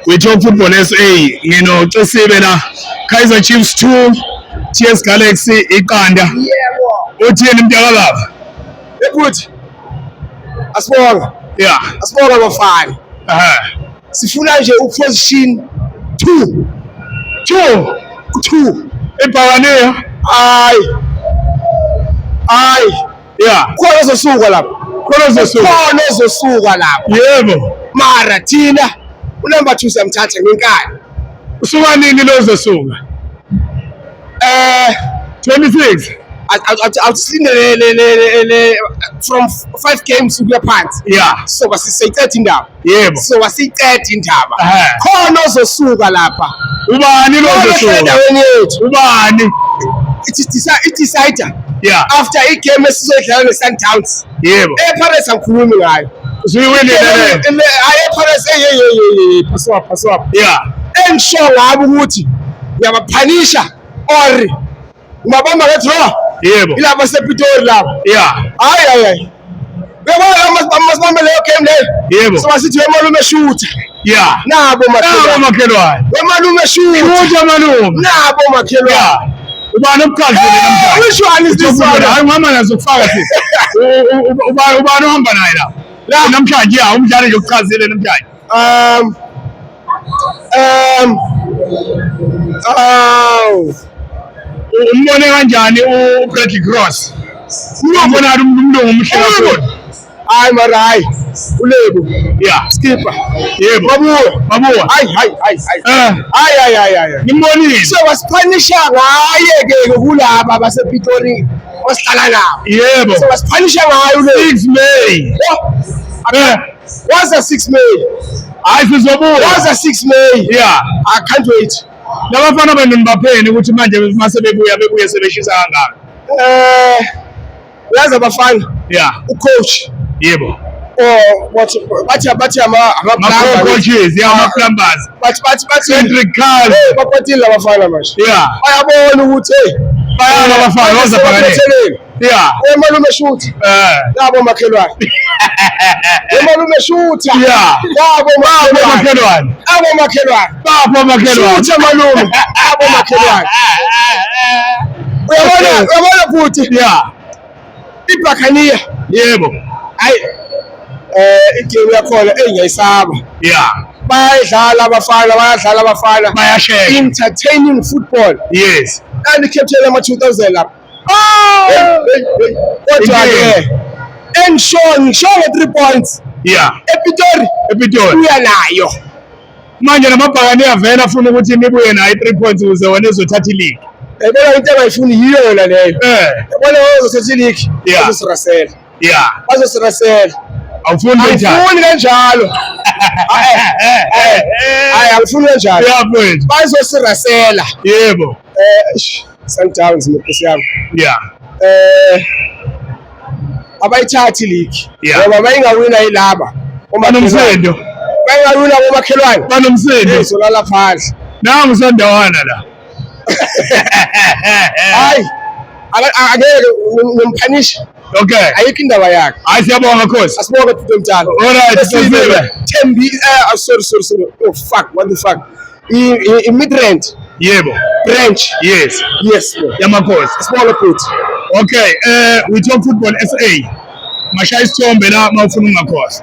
Kwi-Top Football SA nginoCisibe la Kaizer Chiefs 2 TS Galaxy iqanda. Uthini mntaka baba? Ekuthi asibonga. Yeah. Asibonga bafana. Aha. Sifuna nje uposition 2. 2 2 ebhakaniya. Hayi. Hayi. yeah khona zosuka lapho khona zosuka khona zosuka lapho yebo mara thina unumber 2 siyamthatha ngenkani usuka nini lo zosuka eh 26 awusindelele from 5 games ukuya phansi yeah so basisayithatha indaba yebo so wasiqeda indaba khona ozosuka lapha ubani lo ozosuka endaweni yethu ubani i-decider yeah. after igame esizoyidlala ne-sundowns yebo epirates angikhulumi ngayo epirates eyeyeyeyeyphaswapphaswaph ya engisho ngabo ukuthi ngiyabaphanisha or Ungabamba kathi no. Oh, Yebo. Ilapha sePitori lapha. Yeah. Hayi hayi hayi. Bebona masibambe leyo game leyo. Yebo. Soba sithi wemalume shutha. Yeah. Nabo makhelwane. Nabo makhelwane. Wemalume shutha. Shutha malume. Nabo makhelwane. Yeah. ubani obuchazi namhlanje hayi ngihamba nazo kufaka sisi ubani ohamba naye la namhlanje ya umdlali nje okuchazile namhlanje um um aw umbone kanjani uBradley Cross umbona umlungu omuhle kakhulu hayi mara hayi ulebu yeah skipper yebo babuwa babuwa hayi hayi hayi eh. hayi hayi hayi hayi nimbonile so wasiphanisha ngaye ke kulaba basePitori osihlala nabo yebo so wasiphanisha ngayo le 6 May eh. What's the 6 May? Hayi sizobuya. What's the 6 May? Yeah. I can't wait. Labafana benu nibapheni ukuthi manje mase bebuya bebuye sebeshisa kangaka. Eh uyazi abafana? Yeah. U coach. Yebo. Oh what bathi bathi ama ama plumbers. Coaches, yeah, ama ah. plumbers. Bathi bathi bathi Cedric Carl. Eh bakwatile labafana manje. Yeah. Bayabona ukuthi hey bayana abafana bazabhakane. Yeah. Emalume shuthi. Eh. Nabo makhelwane. Emalume shutha. Yeah. Nabo makhelwane. Abo makhelwane. Babo makhelwane. Shutha malume. Abo makhelwane. Uyabona, uyabona futhi. Yeah. Ibhakaniya. Yebo. Hayi. Eh, iteam yakhona engiyayisaba. Yeah. bayadlala abafana bayadlala abafana bayashaya entertaining football yes and captain ama 2000 lapha kodwa ke engisho ngisho nge-three points yeah epitori epitori uya nayo manje namabhakane avela afuna ukuthi nibuye nayo i-three points ukuze wena ezothatha iligi yabona into engayifuni yiyo yona leyo eh. yabona ozothatha iligi azosirasela ya bazosirasela awufuni kanjalo awufuni kanjalo hayi awufuni kanjalo bazosirasela yebo eh Sundowns nkosi yami yeah eh abayithathi league ngoba bayingawina yilaba uma nomsendo bayingawina komakhelwane banomsendo izolala phansi nangu sandawana la hayi angeke ngimphanishi okay ayikho indaba yakhe hayi siyabonga khosi asibonge bhuti omdala all right thembi eh sorry sorry sorry oh fuck what the fuck i-midrand yebo branch yes yes yamakhosi sibona futhi okay eh we talk football sa mashaya isithombe la mawufuna ungakhosi